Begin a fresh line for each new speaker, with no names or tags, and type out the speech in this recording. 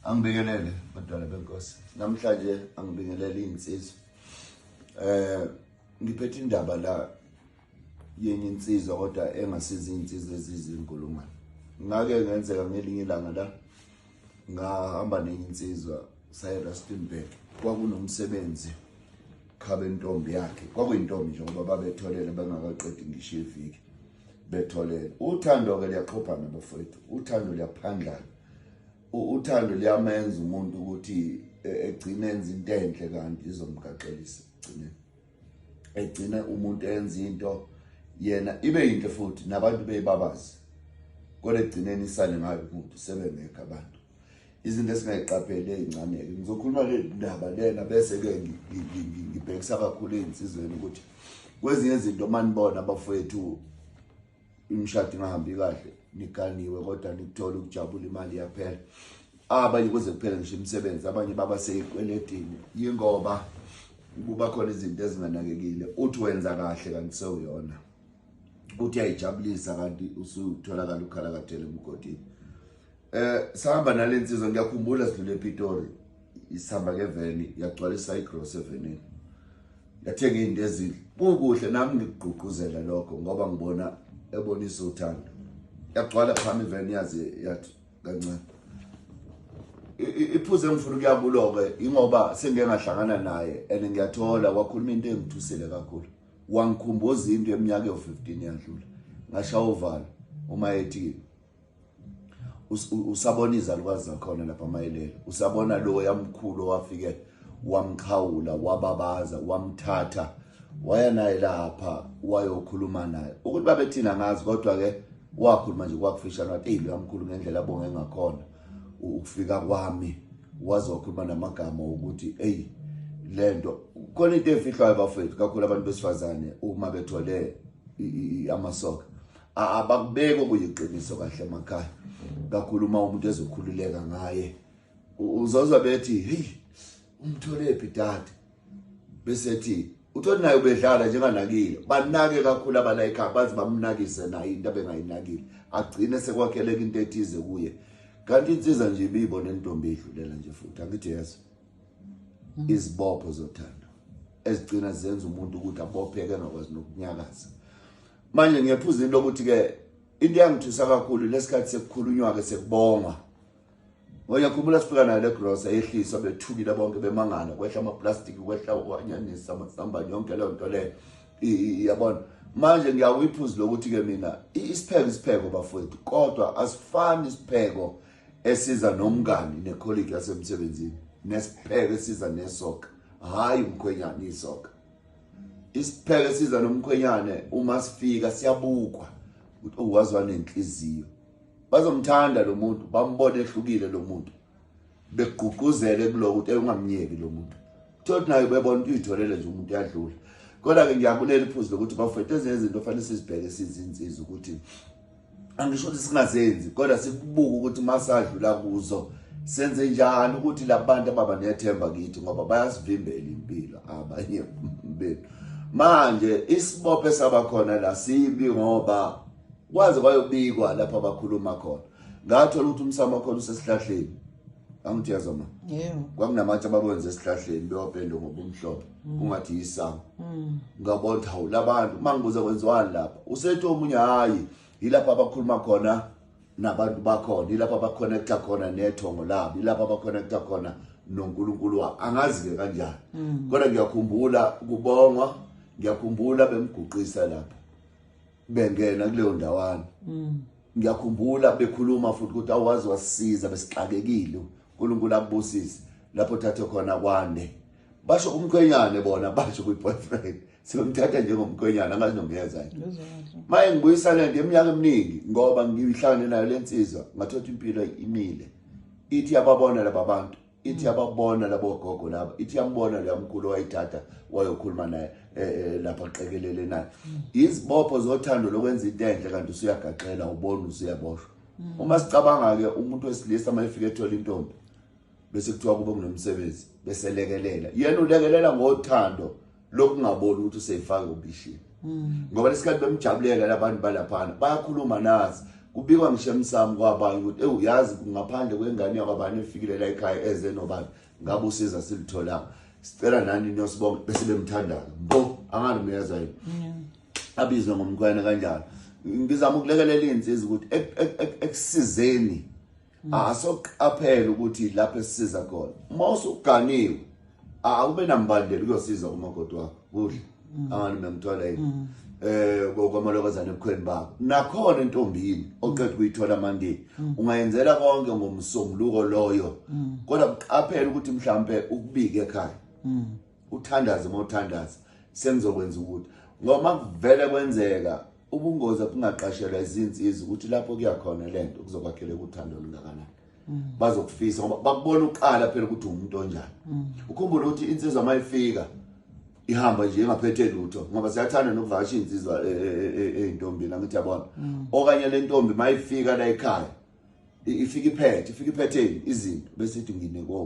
Angibingelele badala benkosi. Namhlanje angibingelele insizwa. Eh ngiphethe indaba la yenye insizwa kodwa engasiza insizwa ezizinkulungwane. Ngake ngenzeka ngelinye ilanga la ngahamba nenye insizwa saye Rustenburg kwakunomsebenzi khabe intombi yakhe kwakuyintombi nje ngoba babetholele bengakaqedi ngisho iviki betholele uthando ke liyaqhophana bafowethu uthando liyaphandlana uthando liyamenza umuntu ukuthi e, egcine enza into enhle kanti izomgaxelisa egcine egcine umuntu enza into yena ibe yinhle futhi nabantu beyibabazi kodwa egcineni isale ngayo umuntu sebengekho abantu izinto esingayiqapheli ezincane-ke ngizokhuluma le ndaba lena bese-ke ngibhekisa kakhulu ezinsizweni ukuthi kwezinye izinto uma nibona abafowethu imishado ingahambi kahle niganiwe kodwa nikuthola ukujabula imali yaphela abanye kuze kuphele ngisho imisebenzi abanye baba seyikweletini yingoba kuba khona izinto ezinganakekile uthi wenza kahle kanti sewuyona uthi ayijabulisa kanti usutholakala ukhala kathele emgodini eh sihamba nalensizwa ngiyakhumbula sidlule ePitoli isihamba ngeveni yagcwalisa igross evenini yathenga izinto ezidle kukuhle nami ngikugqugquzela lokho ngoba ngibona ebonisa uthando yagcwala phami iveni yazi yathi kancane iphuze engifuna ukuyakulo-ke ingoba sengike ngahlangana naye and ngiyathola wakhuluma into engithusile kakhulu wangikhumbuza into eminyaka yo15 yadlula ngashawa uvalo uma ethi usabona izalukazi zakhona lapha mayelele usabona lo yamkhulu owafike wamxhawula wababaza wamthatha waya naye lapha wayokhuluma naye ukuthi babethina ngazi kodwa ke wakhuluma nje kwakufishana wathi hey lo yamkhulu ngendlela abonge ngakhona ukufika kwami waze wakhuluma namagama ukuthi eyi le nto khona into efihlwayo bafowethu kakhulu abantu besifazane uma bethole amasoka abakubeki okuyiqiniso kahle emakhaya kakhulu uma umuntu ezokhululeka ngaye uzozwa bethi heyi umtholephi dade besethi uthole naye ubedlala njenganakile banake kakhulu abala ekhaya baze bamnakise naye into abengayinakile agcine sekwakheleka into ethize kuye kanti insiza nje ibiyibona intombi idlulela nje futhi angithi yeso mm. izibopho zothando ezigcina zenza umuntu ukuthi abopheke angakwazi nokunyakaza manje ngiyaphuza into lokuthi-ke into yangithusa kakhulu lesikhathi sekukhulunywa-ke sekubongwa Uyakhumbula sifika nayo legrosa yehlisa bethukile bonke bemangala kwehla amaplastic kwehla okwanyanisa amasamba yonke leyo nto leyo yabona manje ngiyawuyiphuzi lokuthi ke mina isipheko isipheko bafowethu kodwa asifani isipheko esiza nomngani nekholiki yasemsebenzini nesipheko esiza nesoka hayi umkhwenyane isoka isipheko esiza nomkhwenyane uma sifika siyabukwa ukuthi uwazi wanenhliziyo bazomthanda lo muntu bambone ehlukile lo muntu begqugquzele kuloko ukuthi ungamnyeki lo muntu thothi nayo bebona ukuthi uyitholele nje umuntu uyadlula kodwa-ke ngiyabulela iphuzu lokuthi bafethu ezinye izinto ofanele sizibheke sizinsiza ukuthi angisho ukuthi singazenzi kodwa sikubuke ukuthi uma sadlula kuzo senze njani ukuthi labantu ababa nethemba kithi ngoba bayasivimbela impilo abanye bethu manje isibophe sabakhona la sibi ngoba kwaze kwayobikwa lapho abakhuluma khona ngathola ukuthi umsamo wakhona usesihlahleni angithi yazo ma yebo kwakunamatshe abakwenza esihlahleni bewapende ngobumhlophe mm. kungathi yisango mm. ngabona hawu labantu mangibuza kwenziwani lapha usethi omunye hayi yilapho abakhuluma khona nabantu bakhona yilapho abaconnecta khona nethongo labo yilapho abaconnecta khona noNkulunkulu wabo angazi ke kanjani mm. kodwa ngiyakhumbula kubongwa ngiyakhumbula bemguqisa lapha bengena kuleyo ndawana mm. ngiyakhumbula bekhuluma futhi ukuthi awazi wasisiza besixakekile uNkulunkulu akubusise lapho thathe khona kwande basho umkhwenyane bona basho kwi boyfriend siyomthatha njengomkhwenyana angazi nomyeza yini maye ngibuyisane nje eminyaka eminingi ngoba ngihlangane nayo lensizwa ngathola impilo imile ithi yababona laba bantu ithi yababona labo gogo laba ithi yambona leya mkhulu wayithatha wayokhuluma naye eh, eh, lapha qikelele naye mm. izibopho zothando lokwenza into enhle kanti usuyagaxela ubona usuyaboshwa mm. uma sicabanga ke umuntu wesilisa uma efika ethola intombi bese kuthiwa kube kunomsebenzi beselekelela yena ulekelela ngothando lokungaboni ukuthi usefaka ubishini mm. ngoba lesikhathi bemjabulela labantu balaphana bayakhuluma nazi kubikwa ngisho emsamo kwabanye ukuthi ewu yazi ngaphandle kwengane yakwabani efikile la ekhaya eze nobani ngabe usiza silitholanga sicela nani niyosibonga bese bemthandaza mbo angani muyezwa yini abizwe ngomkhwena kanjalo ngizama ukulekelela izinsiza ukuthi ekusizeni asoqaphela ukuthi lapho esisiza khona uma usuganiwe akube nambandela uyosiza umakoti wakho kudla mm. angani memthola yini mm. eh kokwamalokozana ebukhweni bakho nakhona intombini oqeda kuyithola manje mm. ungayenzela konke ngomsombuluko loyo kodwa uqaphela ukuthi mhlambe ukubike ekhaya uthandaze mothandaza sengizokwenza ukuthi ngoba kuvele kwenzeka ubungozi abungaqashelwa izinsizi ukuthi lapho kuyakhona lento kuzokwakheleka uthando olungakanani mm. bazokufisa ngoba bakubona uqala phela ukuthi umuntu onjani mm. ukhumbule ukuthi insizwa mayifika ihamba nje ingaphethe lutho ngoba siyathanda nokuvakasha insizwa e, e, e, ezintombini angithi yabona mm. okanye le ntombi mayifika la ekhaya ifika iphethe ifika iphetheni izinto bese ithi ngine kobo